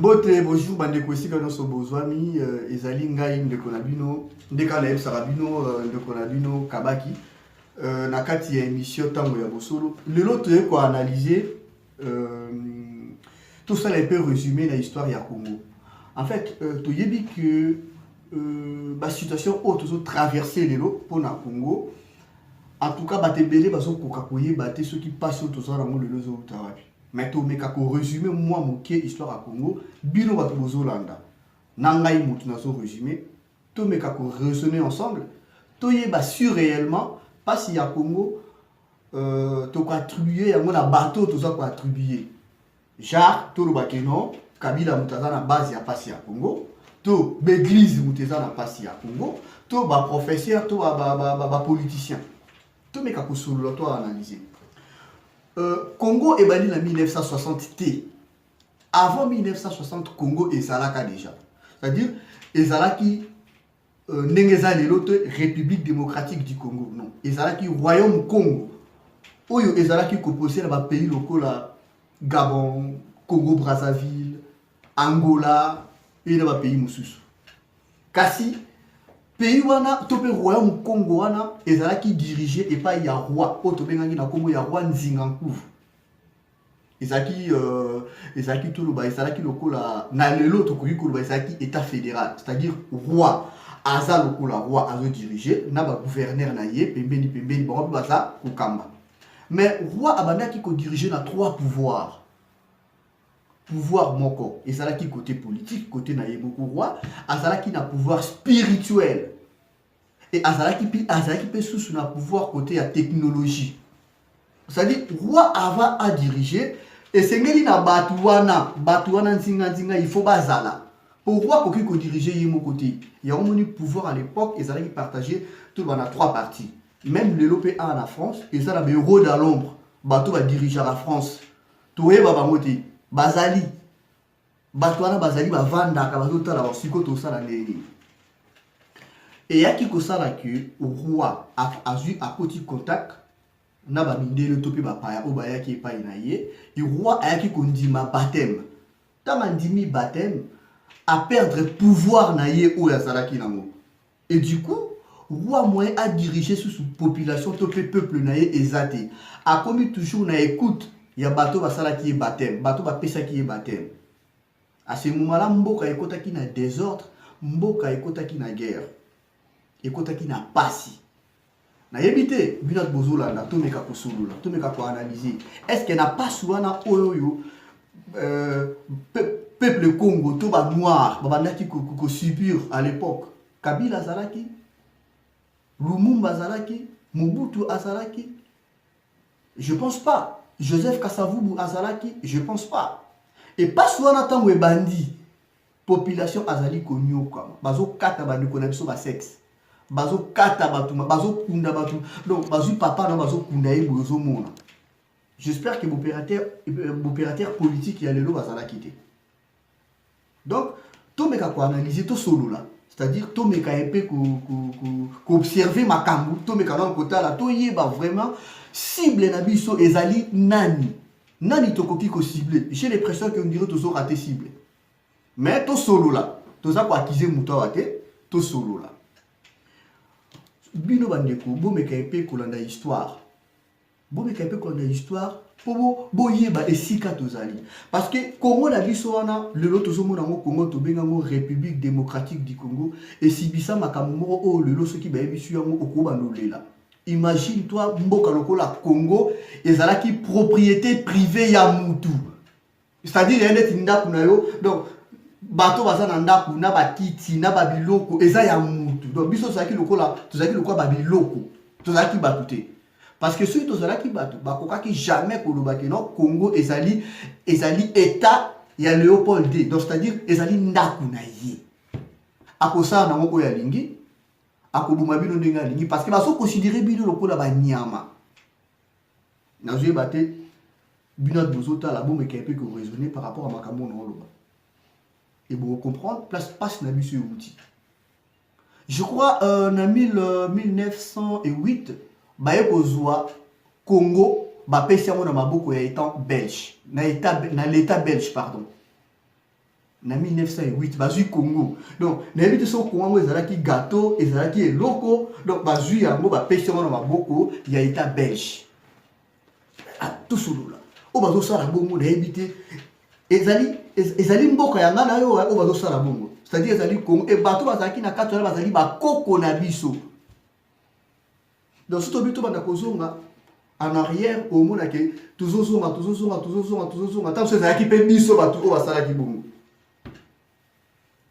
mbote bonjour bandeko esika nyonso bozwami euh, ezali ngai ndeko na bino nde kaka nayebisaka bino euh, ndeko na bino kabaki euh, na kati ya émission ntango ya bosolo lelo toye koanalyse tosala epe résumé na histoire ya congo en fait toyebi que basituation oyo tozotraverse lelo mpo na congo En tout cas, bato ebele bazokoka koyeba te soki mpasi oyo toza nango lelo ezowuta wapi mais tomeka koresume mwa moke histoire ya congo bino bato bozolanda na ngai motu nazo resume tomeka koresone ensemble toyeba si réellement mpasi ya congo euh, tokoattribue yango na bato oyo toza koattribue Genre toloba ke non Kabila moto aza na base ya pasi ya Congo to b'eglise moto eza na pasi ya Congo to ba professeur to ba, ba, ba, ba, ba politicien tomeka kosolola to analyse euh, Congo ebandi na 1960 te avant 1960 Congo ezalaka déjà c'est-à-dire ezalaki euh, ndenge eza lelo te république démocratique du congo non ezalaki royaume congo oyo ezalaki kopose na bapays lokola gabon congo brazzaville angola mpe na bapays mosusu kasi pays wana to mpe royaume congo wana ezalaki dirige epai ya roi oyo tobengaki na nkombo ya roi nzingankuvu ezalaki euh, ezalaki toloba ezalaki lokola na lelo tokoki koloba ezalaki état fédéral c'est-à-dire roi aza lokola roi azodirige na bagouverneur na ye pembeni pembeni bango mpe baza kokamba mais roi abandaki kodirige na trois pouvoir pouvoir moko ezalaki côté politique côté na ye moko roi azalaki na pouvoir spirituel et azalaki mpe azalaki mpe susu na pouvoir côté ya technologie c'est-à-dire roi avant a dirige esengeli na bato wana bato wana nzinganzinga il faut bazala mpo roi akoki kodirige ye moko te yango moni pouvoir à l'époque ezalaki partage to bana trois parties même lelo mpe awa na france eza na baeuro da lombre bato badirigeaka france toyeba bango te bazali bato wana bazali bavandaka bazotala basiko tosala ndenge nini eyaki kosala ke roi azwi akoti contact na bamindele to mpe bapaya oyo bayaki epai na ye roi ayaki kondima bateme ntango andimi bateme aperdre pouvoir na ye oyo azalaki nango Et du coup, roi moyen a diriger sous population to pe peuple na ye eza te. Akomi toujours na écoute ya bato basalaki ye baptême, bato bapesaki ye baptême. À ce moment-là, mboka ekotaki na désordre, mboka ekotaki na guerre, ekotaki na pasi. nayebi te bino ati bozolanda tomeka kosolola tomeka koanalyse estce na pasi wana oyo oyo euh, peuple congo to banoir babandaki kosubir à l'époque kabila azalaki lumumba azalaki mobutu azalaki je pense pas joseph kasavubu azalaki je pense pas epasi wana ntango ebandi population azali konyokwama bazokata bandeko na biso basexe bazokata bato bazokunda bato donc bazwi papa na bazokunda ye boye ozomona j'espère que bopérateur euh, politique ya lelo bazalaki te donc tomeka koanalyse tosolola c'est-à-dire tomeka ye mpe koobserve makambo tomeka nano kotala toyeba vraiment cible na biso ezali nani nani tokoki kocible j'ai l'impression que ondire tozorate cible mais tosolola toza koakize moto awa te tosolola bino bandeko bomeka ye mpe kolanda histoire bomeka ye mpe kolanda histoire mpo boyeba esika tozali parce que congo na biso wana lelo tozomona yango congo tobenga yango république démocratique du congo esibisa makambo moko oyo lelo soki bayebisi yango okobanda olela imagine toi mboka lokola congo ezalaki propriété privée ya mutu c'est-à-dire ya ndeti ndako na yo donc bato baza na ndako na bakiti na babiloko eza ya mutu donc biso tozalaki lokola tozalaki lokola babiloko tozalaki bato te parce que soki tozalaki bato bakokaki jamais koloba ke non congo ezali ezali état ya léopold d donc c'est-à-dire ezali ndako na ye akosala nango oyo alingi akoboma bino ndenge alingi parce que bazokonsidere bino lokola banyama nazoyeba te bino ati bozotala bomekee mpe koraisonne par rapport ya makambo oyo naoloba e bocomprendre place mpasi na biso euti je crois euh, na 1908 euh, baye kozwa congo bapesi yango na maboko ya etant belge na, na l'état belge pardon na 1908 bazwi congo donc nayebi te soki congo yango ezalaki gato ezalaki eloko donc bazwi yango bapesi yango na maboko ya etat belge atosolola oyo bazosala bongo nayebi te ezali ezali mboka ya ngai na yo oyo bazosala bongo c'est-à-dire ezali congo e bato bazalaki na kati wana bazali bakoko na biso Donc si tobi tobanda kozonga en arrière omona ke tozozonga tozozonga tozozonga tozozonga ntango so ezalaki mpe biso bato oyo basalaki bongo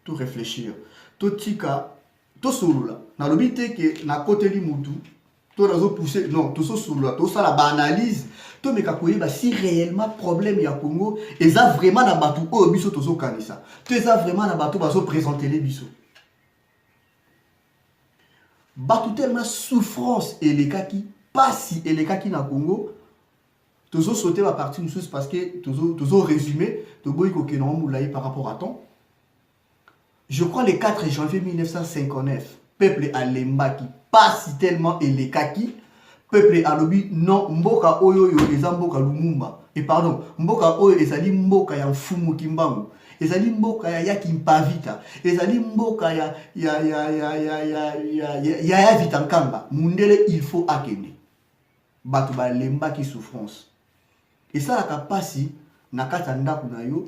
to réfléchir totika tosolola nalobi te ke nakoteli motu to nazopousse non tososolola tosala baanalyse tomeka koyeba si réellement problème ya congo eza vraiment na bato oyo biso tozokanisa to eza vraiment na bato bazopresentele biso bato telema souffrance elekaki pasi elekaki na congo tozo sauter ba partie mosusu parce que tozo, tozo résumer toboyi kokende yango molai par rapport à temps je crois le 4 janvier 1959 peuple alembaki pasi tellement elekaki peuple alobi non mboka oyo oyo eza mboka lumumba e pardon mboka oyo ezali mboka ya mfumu kimbangu ezali mboka ya yaki mpavita ezali mboka ya ya ya ya ya ya ya ya ya ya vita nkamba mundele il faut akende bato balembaki souffrance esalaka mpasi na kati ya ndako na yo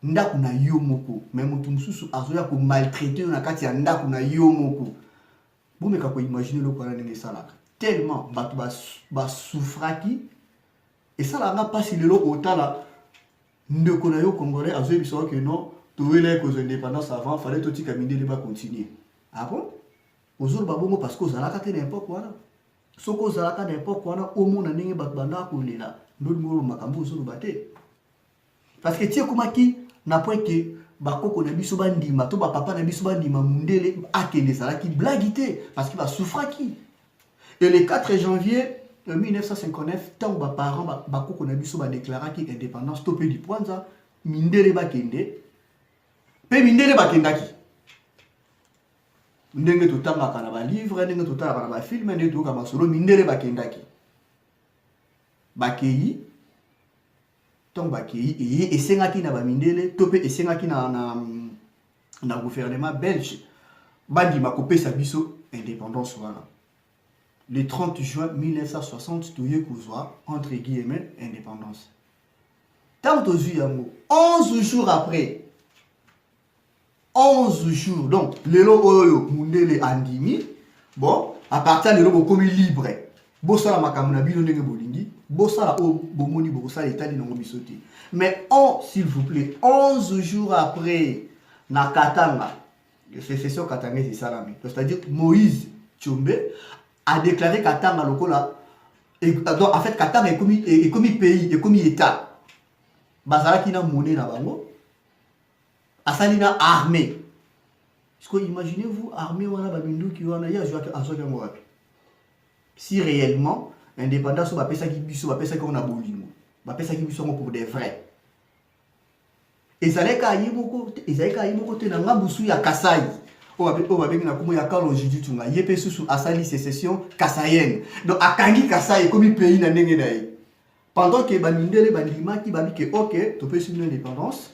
ndako na yo moko me moto mosusu azoya komaltraite yo na kati ya ndako na yo moko bomeka koimagine eloko wana ndenge esalaka tellement bato basufraki esalaka nga mpasi lelo kotala ndeko na yo congolais azoyebisa yo ke non towelaki kozwa indépendance avant fale totika mindele bacontinue ah bon ozoloba bongo parce que ozalaka te na epoque wana soki ozalaka na epoque wana omona ndenge bato bandaka kolela ndodimolo makambo ozoloba te parce que ti ekomaki na point ke bakoko na biso bandima to bapapa na biso bandima mundele akende ezalaki blagi te parce que basufraki et le 4 janvier 1959 euh, ntango baparent bakoko na biso badeklaraki indépendance to mpe lipwanza mindele bakende mpe mindele bakendaki ndenge totangaka na balivre ndenge totalaka na bafilme ndenge toyoka masolo mindele bakendaki bakei ntango bakei eye esengaki na bamindele to mpe esengaki na, na, na gouvernement belge bandima kopesa biso indépendance wana le 30 juin 1960 toye kozwa entre guillemets indépendance ntango tozwi yango 11 jours après 11 jours donc lelo oyo mundele andimi bon à partir lelo bokomi libre bosala makambo na bino ndenge bolingi bosala oyo bomoni bokosala etali nango biso te mais on s'il vous plaît 11 jours après na katanga secession katangais esalami c'est-à-dire moïse tshombe a déclaré katanga lokola donc en fait katanga ekomi, ekomi pays ekomi état bazalaki na mone na bango asali na armée siko imaginez vous armée wana baminduki wana ye azwaki azwaki yango wapi si réellement indépendance oyo bapesaki biso bapesaki yango na bolingo bapesaki biso yango pour de vrai ezalaki aye moko ezalaki aye moko te na ngambusu ya kasai oyo babengi na kombo ya carlo jijitunga ye mpe susu asali secession kasayenne donc akangi kasai ekomi pays na ndenge na ye Pendant que ba mindele ba ndimaki ba bike ok topesi bino indépendance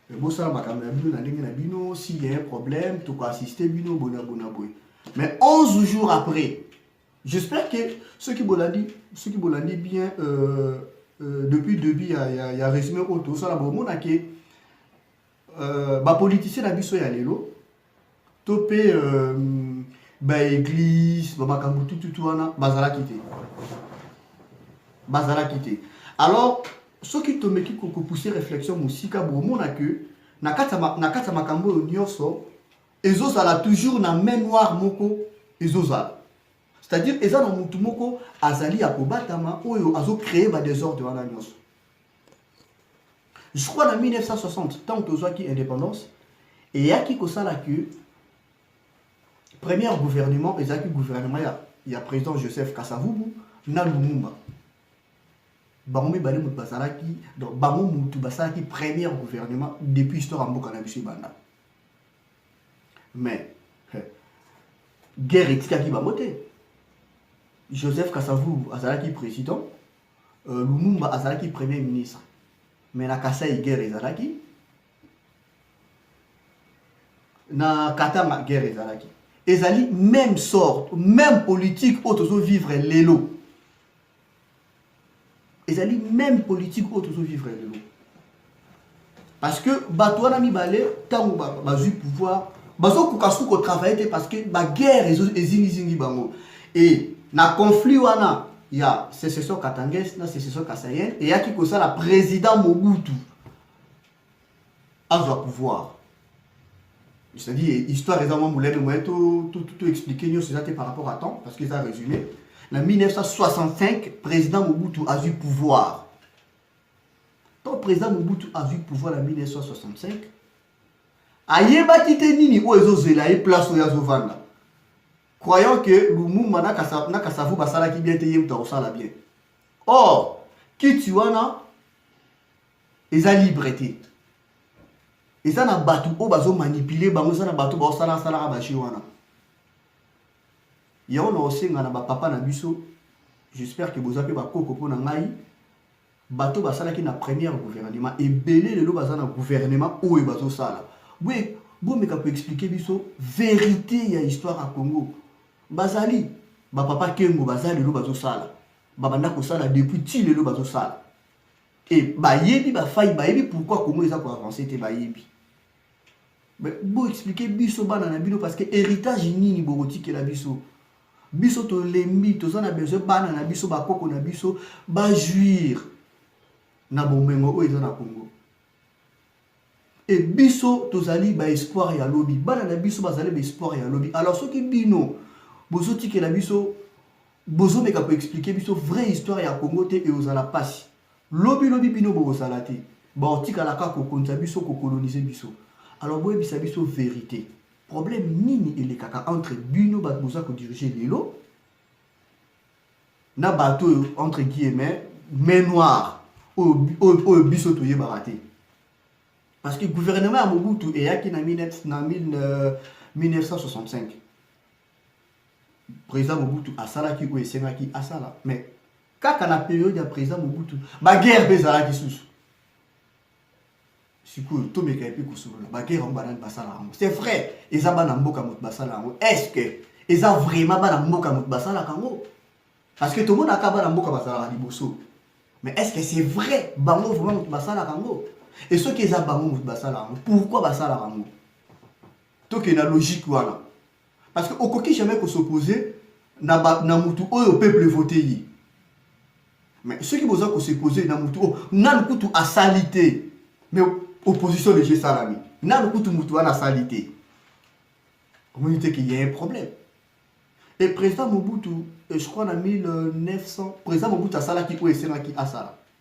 eh, bosala makambo na bino na ndenge na bino s'il y a un problème toko assister bino bona bona boye mais 11 jours après j'espère que ceux qui bolandi ceux qui bolandi bien euh, euh, depuis début ya, ya, ya résumé oyo tosala bomonake euh, ba politiciens na biso ya lelo to pe euh, ba église ba makambo tututu wana bazalaki te bazalaki te alors soki tomeki kopousse réflexion mosika bomona que na kati ya makambo oyo nyonso ezozala toujours na main noire moko ezozala c'est-à-dire eza na motu moko azali ya kobatama oyo azocree badesordre wana nyonso jusqu'à na 1960 ntango tozwaki indépendance eyaki kosala que premier gouvernement ezalaki gouvernement ya, ya président joseph kasavubu na lumumba bango mibale moto bazalaki donc bango motu basalaki premier gouvernement depuis histoire ya mboka na biso ebanda mais eh, guerre etikaki bango te joseph kasavubu azalaki président Euh, Lumumba azalaki premier ministre mais na Kasaï guerre ezalaki na Katanga guerre ezalaki ezali même sorte même politique oyo tozo vivre lelo ezali même politique oyo tozo vivre lelo parce que bato wana mibale ntango bazwi pouvoir bazokoka suku kotravaille te parce que baguerre ezingizingi bango e na conflit wana ya secession katanges na secession kasayel eyaki kosala président mobutu azwa pouvoir c'est-à-dire histoire eza mwa molene moye to expliquer nyonso eza te par rapport à temps parce que eza résumé na 1965 président mobutu azwi pouvoir Quand président Mobutu a vu pouvoir en 1965, ayebaki te nini oyo ezozela ye place oyo azovanda croyant que lumumba na kasavu basalaki bien te ye moto akosala bien or kiti wana eza libre te eza na bato oyo bazomanipule bango eza na bato baosalaka salaka baje wana Yango na osenga na ba papa na biso, j'espère que boza pe ba koko pona ngai, bato basalaki na première gouvernement ebele lelo baza na gouvernement oyo bazosala boye bomeka koexplike biso verité ya histoire ya congo bazali bapapa kengo baza lelo bazosala babanda kosala depuis ti lelo bazosala e bayebi bafai bayebi pourquoi congo eza koavance te bayebi bo expliquer biso bana na bino parce que héritage nini bokotikela biso biso tolembi toza na besoin bana na biso bakoko na biso bajuire na bomengo oyo eza na congo e biso tozali baespoir ya lobi bana na biso bazali baespoir ya lobi alors soki bino bozotikela biso bozomeka koexplike biso vraie histoire ya congo te eozala mpasi Lobi lobi bino bokozala te. Baotikala kaka kokonza biso, kokolonize biso. Alors boyebisa biso verite. Problème nini elekaka entre bino bato boza kodirige lelo na bato oyo entre guillemets main noire oyo biso toyebaka te parce que gouvernement ya mobutu eyaki na 1965 Président Mobutu asalaki oyo esengaki asala mais kaka na periode ya Président Mobutu baguerre mpe ezalaki susu sikoyo tomeka epe kosolola baguerre yango banani basala yango c'est vrai eza bana mboka moto basala yango est ce que eza vraiment bana mboka moto basalaka yango parce que tomonaka bana mboka bazalaka liboso mais est ce que c'est vrai bango vraiment moto basalaka yango e soki eza bango moto basalaka yango pourquoi basalaka yango tokende na logique wana parce que okoki jamais ko s'opposer na, ba, na mutu oyo peuple vote ye mais soki boza ko s'opposer na mutu oyo nanu kutu asali te mais opposition deja esalami nanu kutu mutu wana asali te omoni te qu'il y a un problème et président mobutu je crois na 1900 président mobutu asalaki oyo esengaki asala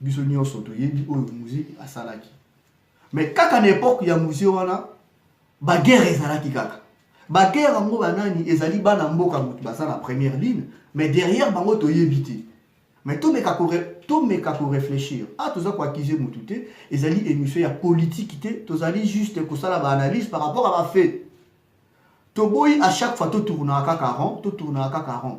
biso nyonso toyebi oyo musee asalaki mais kaka na epoque ya musee wana baguerre ezalaki kaka baguerre yango banani ezali bana mboka moto baza na première ligne mais derrière bango toyebi te mais tomeka tomeka koreflechir a ah, toza koakize motu te ezali émission ya politiki te tozali juste kosala baanalyse par rapport à bafait toboyi à chaque fois totournaka kaka rond totournaka kaka rond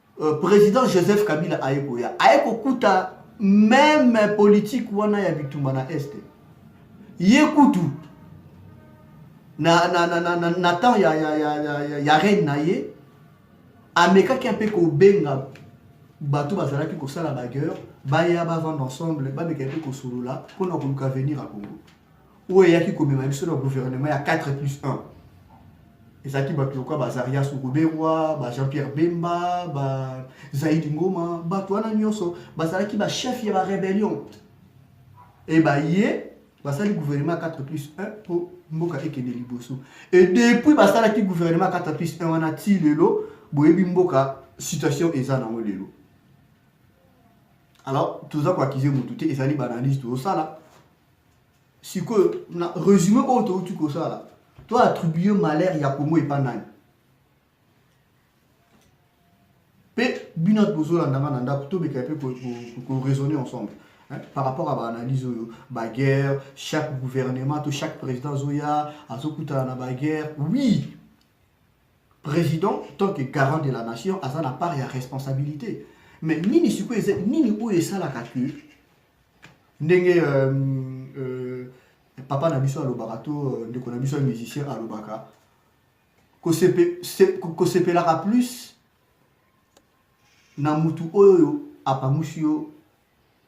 Euh, président joseph kabila aye koya aye kokuta meme politique wana ya bitumba na este ye kutu na, na, na, na, na, na temps ya, ya, ya, ya, ya reine na ye amekaki mpe kobenga bato bazalaki kosala bagueur baya bavanda ensemble bameka mpe kosolola mpo na koluka avenir ya congo oyo eyaki komema biso na gouvernement ya 4 plus 1 ezalaki bato lokola bazarias ruberwa ba jean pierre bemba ba zaidi ngoma bato wana nyonso bazalaki bachef ya barébellion e baye basali gouvernement 4 plus 1 mpo mboka ekende liboso e depuis basalaki gouvernement 4 plus 1 wana ti lelo boyebi mboka situation eza nango lelo alors toza koakize motu te ezali baanalyse tozosala sikoyo na résumé oyo touti kosala to attribue malheur ya congo epa nani mpe bino ati bozolanda nga na ndako tomeka mpe koraisonner ensemble par rapport à baanalyse oyo baguerre chaque gouvernement to chaque président azoya azokutana na baguerre oui président tant que garant de la nation aza na part ya responsabilité mais nini sikoyo eza nini oyo esalaka que ndenge euh, euh, papa na biso alobaka to euh, ndeko na biso ya musicien alobaka kosepelaka plus na mutu oyo apangusi yo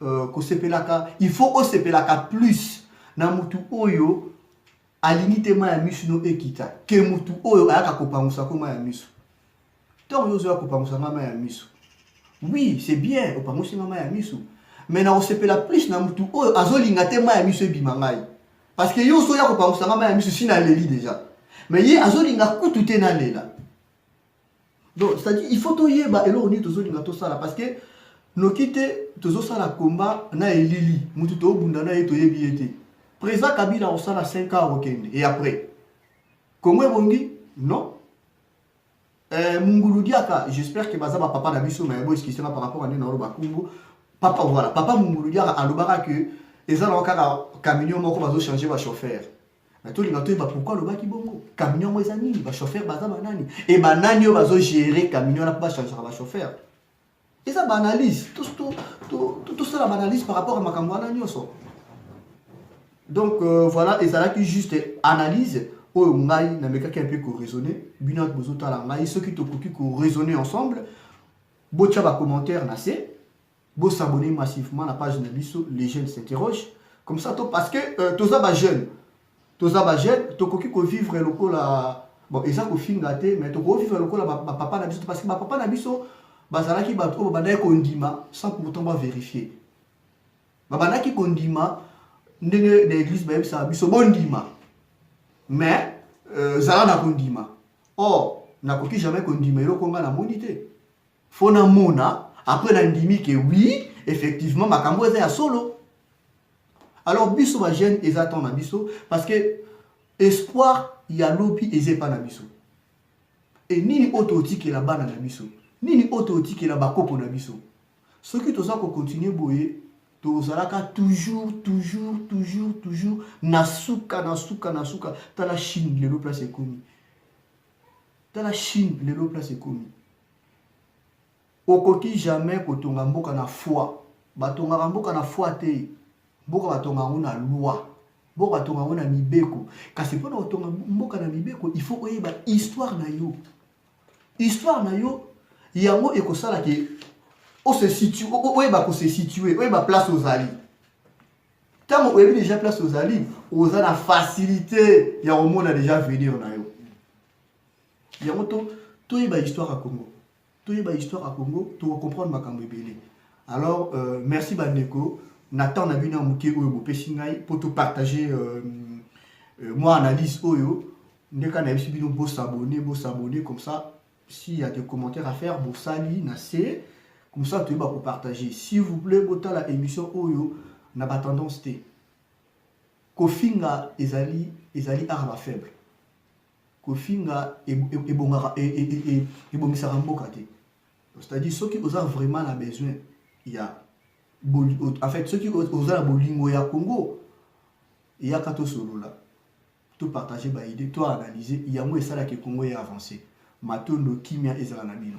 euh, kosepelaka il faut osepelaka plus na mutu oyo alingi te mai ya miso no ekita ke mutu oyo ayaka kopangusa ko mai ya miso ntango yo ozoya kopangusa ngai mai ya miso oui c'est bien opangusi ngai mai ya miso mais nakosepela plus na motu oyo azolinga te mai ya miso ebima ngai parce que yo ozoya kopangusa ngai mai ya miso si naleli déjà mais ye azolinga kutu te nalela donc c'est-à-dire il faut toyeba eloko nini tozolinga tosala parce que noki te tozosala komba na elili motu tobunda na ye toyebi ye te président kabila akosala 5 ans akokende et après kongo ebongi non Euh, Mungulu Diaka, j'espère que baza ba papa na biso mais bo excuse par rapport à Nina Oloba Kumbu. Papa voilà, papa Mungulu Diaka alobaka que eza na kaka camion moko bazo changer ba chauffeur. Mais tout le monde toyeba pourquoi alobaki bongo. Camion mo eza nini? Ba chauffeur baza ba nani? Et ba nani oyo bazo gérer camion na ba changer ba chauffeur. eza ba analyse tosala ba analyse par rapport ya makambo wana nyonso donc euh, voilà ezalaki juste analyse oyo ngai namekaki mpe koraisonne bino ati bozotala ngai soki tokoki koraisonne ensemble botya bacommentaire na se bosabone massivement na page na biso les jeunes s'interroge comme ça to parce que euh, toza bajeune toza ba jeune tokoki ko vivre lokola bon eza kofinga te mais tokoki vivre lokola bapapa na biso parce que bapapa na biso bazalaki bato oyo babandaki kondima sans pourtant baverifie babandaki kondima ndenge na église bayebisaka biso bondima mais euh, zala na kondima or nakoki jamais kondima eloko ngai namoni te faut namona après nandimi ke oui effectivement makambo eza ya solo alors biso ba jeune eza temps na biso parce que espoir ya lobi eza epa na biso e nini oyo totikela bana na biso nini oyo totikela bakoko na biso soki toza kokontinue boye tozalaka toujours toujours toujours toujours na suka na suka na suka tala chine lelo place ekomi tala chine lelo place ekomi Okoki jamais kotonga mboka na foi. Batongaka mboka na foi te. Mboka batonga yango na loi. Mboka batonga yango na mibeko. Kasi mpo na kotonga mboka na mibeko, il faut oyeba histoire na yo. Histoire na yo, yango ekosala ke ose situe, oyeba ko se situer, oyeba place ozali. Ntango oyebi deja place ozali, oza na facilité ya komona deja avenir na yo. yango to toyeba histoire ya congo toyeba histoire ya congo tokocomprendre makambo ebele alors euh, merci bandeko na temps na bino ya moke oyo bopesi ngai mpo topartage euh, euh, mwa analyse oyo ndeka nayebisi bino bosabone bosabone comme ça s'il y a des commentaires à faire bosali na se comme ça toyeba kopartage s'il vous plaît botala émission oyo na batendance te kofinga ezali ezali art ba faible Kofinga ebongaka ebongisaka mboka te. C'est-à-dire soki oza vraiment na besoin ya en fait soki oza na bolingo ya Congo eyaka tosolola to partager ba idée to analyser yango esalaka Congo ya avancer. Matondo kimia ezala na bino.